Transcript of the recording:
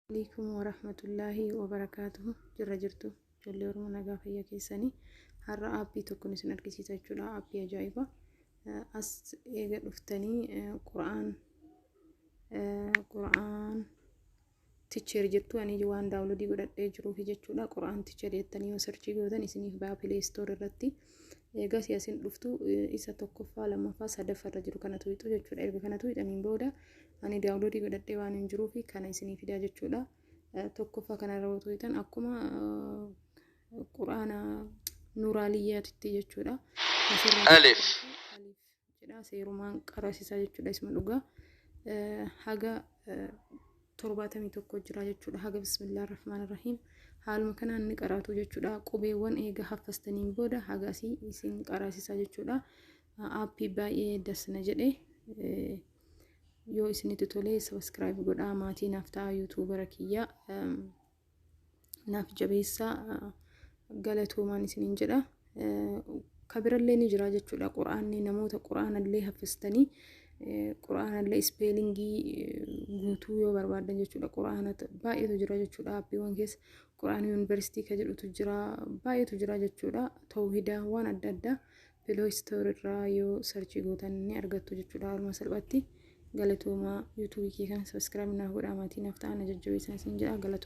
Waaleykum warahmatullahi wabarakatuhu jirra jirtu ijoollee oromoo nagaa fayya keessanii har'a aappii tokkon isin argisiisa jechuudha aappii ajaa'iba as eega dhuftanii qura'aan qura'aan ticheer jettu ani waan daawulodii godhadhee jiruufi jechuudha qura'aan ticheer jettanii yoo sarchii gootan isiniif baa pileestoor irratti eegas yasin dhuftu isa tokkoffaa lammaffaa sadaffaa irra jiru kanatu wixu jechuudha erga kanatu wixaniin booda Ani daawunloodii godhadhee waan hin jiruu fi kana isinii fidaa jechuudha. Tokkoffaa kanarra otoo hitan akkuma quraana nuuraaliyyaatitti jechuudha. Alif. Jedha seerumaan qarasisaa jechuudha isma dhugaa. Haga torbaatamii tokko jira jechuudha. Haga bismillah rahmaan rahiim. Haaluma kanaan ni qaraatu jechuudha. Qubeewwan eega haffastaniin booda haga asii isin qarasisaa jechuudha. Aappii baay'ee dasna jedhe. yoo isinitti tolee sabiskiraayib godhaa maatii naaf ta'aa yuutuubara kiyya naaf jabeessaa galatoomaan isiniin jedha kabirallee ni jira jechuudha quraanni namoota quraanallee haffistanii quraanallee ispeelingii guutuu yoo barbaadan jechuudha quraana baay'eetu jira jechuudha appiiwwan keessa quraana yuunivarsiitii ka jedhutu jira baay'eetu jira jechuudha tawhidaa waan adda addaa Pilooy Store irraa yoo sarchii gootan ni argattu jechuudha haaluma salphaatti. Galatoomaa YouTube kee kana subscribe naaf godhaa maatii naaf ta'aa na jajjabeessan isin jedha galatoomaa.